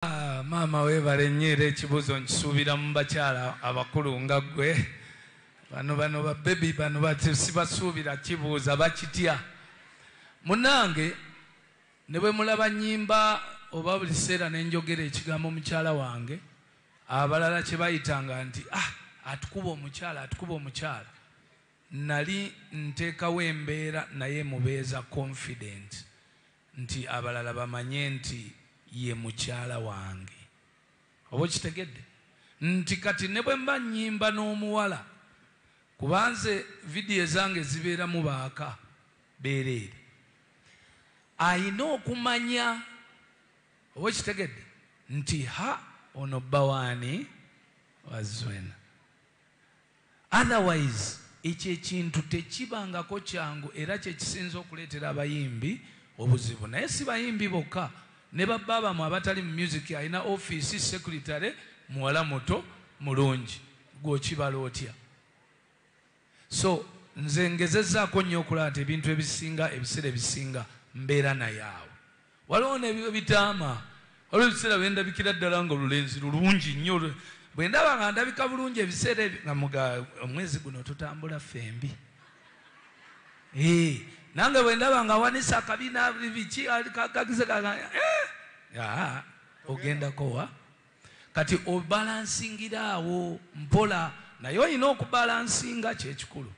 Ah, maama weebale nnyo era ekibuuzo nkisuubira mu bakyala abakulu nga ggwe bano bano babebi bano sibasuubira kibuuza bakitya munange ne bwe mulaba nyimba oba buli kiseera ne njogera ekigambo mukyala wange abalala kye bayitanga nti ah atukuba omukyala atukuba omukyala nali nteekawo embeera naye mubeeza confident nti abalala bamanye nti ye mukyala wange. Oba okitegedde? Nti kati ne bwe mba nnyimba n'omuwala, kuba nze vidiyo ezange zibeeramu baaka beereere, alina okumanya, oba okitegedde, nti ha, ono bba w'ani? Wa Zuena. Otherwise ekyo ekintu tekibangako kyangu era kyekisinze okuleetera abayimbi obuzibu naye si bayimbi bokka ne ba bba bamwe abatali mu music alina office, secretary muwala muto mulungi gwe okibala otya? So nze ngezezaako nnyo okulaba nti ebintu ebisinga ebiseera ebisinga mbeera naye awo. Waliwo n'ebyo ebitaama. Waliwo ebiseera lwe ndabikira ddala ng'olulenzi lulungi nnyo. Bwe ndaba nga ndabika bulungi ebiseera ebyo nga muga, omwezi guno tutambula ffembi. Eeh, nange bwe ndaba ng'awanise akabina, biki, kagize ka, eeh, aa, ogendako wa? Kati obalansingira awo mpola, naye olina okubalansinga, kye kikulu.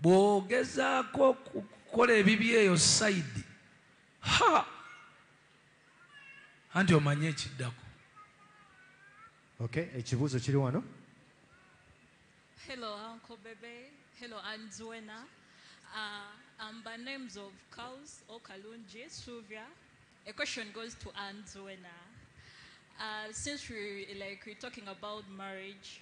Bw'ogezaako okukola ebibye eyo sayidi. Ha! Anti omanyi ekiddako. Okay, ekibuuzo kiri wano. Hello, Uncle Bebe. Hello, Aunt Zuena. Uh, um, by names of cows, Okalunji, Suvia. A question goes to Aunt Zuena. Uh, since we like we're talking about marriage,